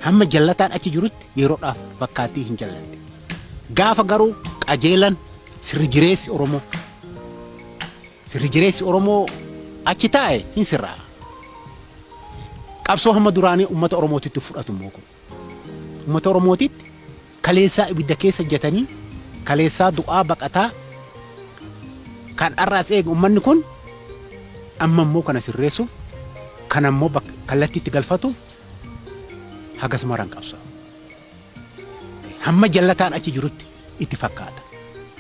Hamma jallataan achi jirutti yeroodhaaf fakkaattii hin jallanne. Gaafa garuu qajeelan sirri jireessi Oromoo sirri jireessi Oromoo achi taa'e hin sirraa. Qabsoo hamma duraanii uummata Oromootitti fudhatu immoo kun uummata Oromootitti Kaleessaa ibidda keessa jatanii kaleessaa du'aa baqataa kan har'aas eega ummanni kun amma immoo kana sirreessuuf kana immoo bak- kallattii itti galfatuuf hagas maran qabsaa'u. Hamma jallataan achi jirutti itti fakkaata.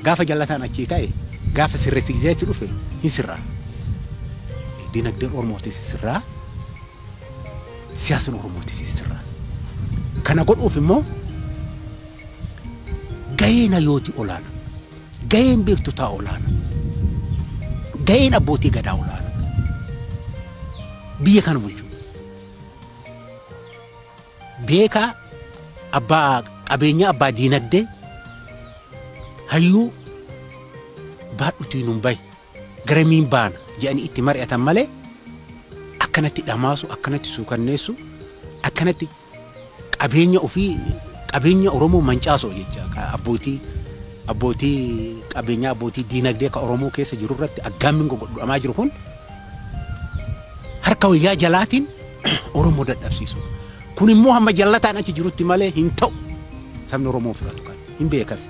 Gaafa jallataan achii ka'e gaafa sirreessi dhufe hin sirraa. Dinagdeen Oromoo sirraa. siyaasni Oromoo itti sisirraa. Kana godhuuf immoo gaheen hayyooti olaana, gaheen beektotaa olaana, gaheen abbootii gadaa olaana. Biyya kana bulchuu beekaa abbaa qabeenyaa abbaa diinagdee hayyuu baadhutii nun bahe. garamiin baana jedhanii itti mari'atan malee akkanatti dhamaasu, akkanatti suukanneessu, akkanatti qabeenya ofii qabeenya Oromoo mancaasoo jecha ka abbootii abbootii qabeenyaa abbootii diinagdee ka Oromoo keessa jiru irratti aggaammiin gogodhamaa jiru kun harka wayyaa jalaatiin Oromoo dadhabsiisu. Kun immoo hamma jallataan achi jirutti malee hin ta'u. Sabni Oromoo hin fudhatu kan hin beekas.